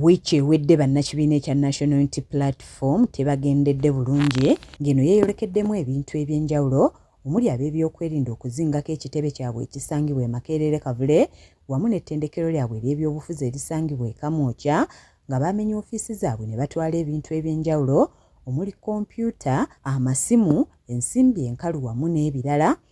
Wiiki ewedde bannakibiina ekya National Unity Platform tebagendedde bulungi ng'eno yeeyolekeddemu ebintu eby'enjawulo omuli ab'ebyokwerinda okuzingako ekitebe kyabwe ekisangibwa e Makerere-Kavule wamu n'ettendekero lyabwe ery'ebyobufuzi erisangibwa e Kamwokya nga baamenye ofiisi zaabwe ne batwala ebintu eby'enjawulo omuli kompyuta, amasimu, ensimbi enkalu wamu n'ebirala.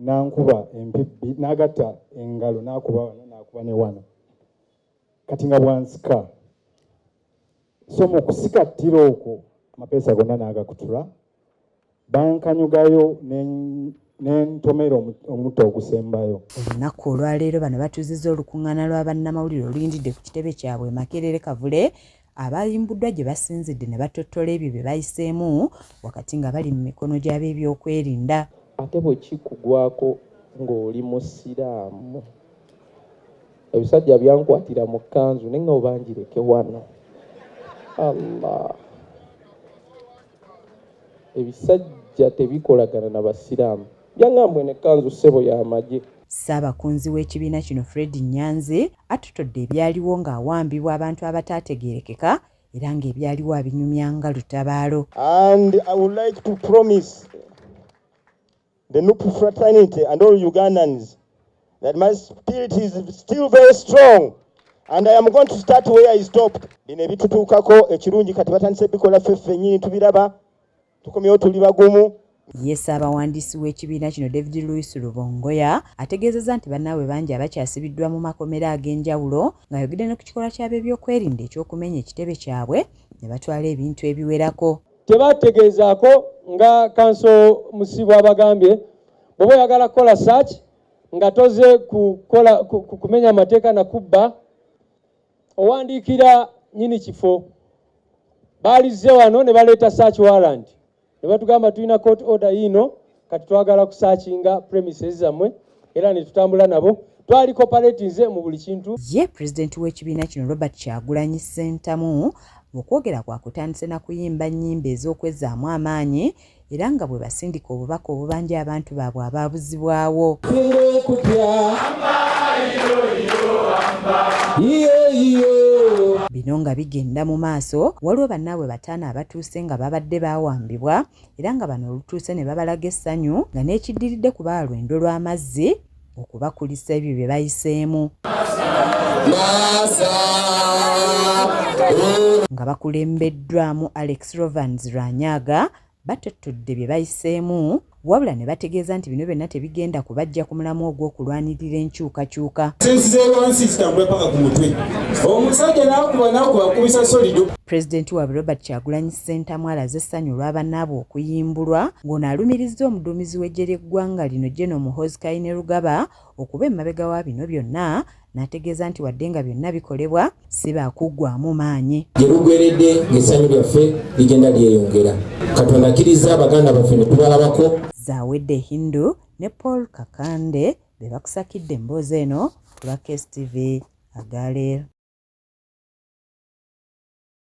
nankuba empibbi nagatta engalo nakuba wano nakuba ne wano kati nga bwansika so mu kusikattira okwo amapeesa gonna naagakutula bankanyugayo nentomera omutto ogusembayo olunaku olwaleero bano batuziza olukuŋŋaana lwa bannamawulire oluyindidde ku kitebe kyabwe makerere kavule Abaayimbuddwa gye basinzidde ne battottola ebyo bye bayiseemu wakati nga bali mu mikono gy'abeebyokwerinda. Ate bwe kikugwako ng'oli Musiraamu? Ebisajja byankwatira mu kkanzu ne ng'oba ngireke wano. Allah! Ebisajja tebikolagana na Basiraamu. Jangambwe ne kanzu ssebo ya magye. Ssaabakunzi w'ekibiina kino Fred Nyanzi attotodde ebyaliwo ng'awambibwa abantu abataategeerekeka era ng'ebyaliwo abinyumya nga lutabaalo. And I would like to promise the Nup fraternity and all Ugandans that my spirit is still very strong and I am going to start where I stopped. Bino ebitutuukako ekirungi kati batandise bikola ffe ffennyini tubiraba tukomyewo tuli bagumu Ye ssaabawandiisi w'ekibiina kino David Louis Lubongoya ategeezezza nti bannaabwe bangi abakyasibiddwa mu makomera ag'enjawulo ng'ayogedde ne ku kikolwa ky'abeebyokwerinda eky'okumenya ekitebe kyabwe ne batwala ebintu ebiwerako. Tebategeezaako nga kanso Musibwa abagambye bw'oba oyagala kukola search nga toze kumenya mateeka na kubba owandiikira nyini kifo baalizze wano ne baleeta search warrant ne batugamba tulina court order yiino kati twagala kusakinga premises zammwe era ne tutambula nabo twali coperatinze mu buli kintu ye pulezidenti w'ekibiina kino robert kyagulanyi ssentamu mu kwogera kwakutandise na kuyimba nnyimba ez'okwezaamu amaanyi era nga bwebasindika obubaka obubanja abantu baabwe abaabuzibwawo. Bino nga bigenda mu maaso, waliwo bannaabwe bataano abatuuse nga babadde baawambibwa era nga bano olutuuse ne babalaga essanyu nga n'ekiddiridde kubaalwa endo lw'amazzi okubakulisa ebyo bye bayiseemu nga bakulembeddwamu Alex Rovans Rwanyaga batottodde bye bayiseemu wabula ne bategeeza nti bino byonna tebigenda kubajja ku mulamu ogw'okulwanirira enkyukakyuka pulezidenti waabwe robert kyagulanyi Ssentamu alaze essanyu olwa bannaabwe okuyimbulwa ng'ono alumirizza omuduumizi w'eggye ly'eggwanga lino General Muhoozi Kainerugaba okuba emabega wa bino byonna n'ategeeza nti wadde nga byonna bikolebwa si baakuggwaamu maanyi. Gye bugweredde ng'essanyu lyaffe ligenda lyeyongera. Katonda akkirizza baganda baffe ne tubalabako. Zawedde Hindu ne Paul Kakande be bakusakidde emboozi eno ku lwa KSTV Agaler.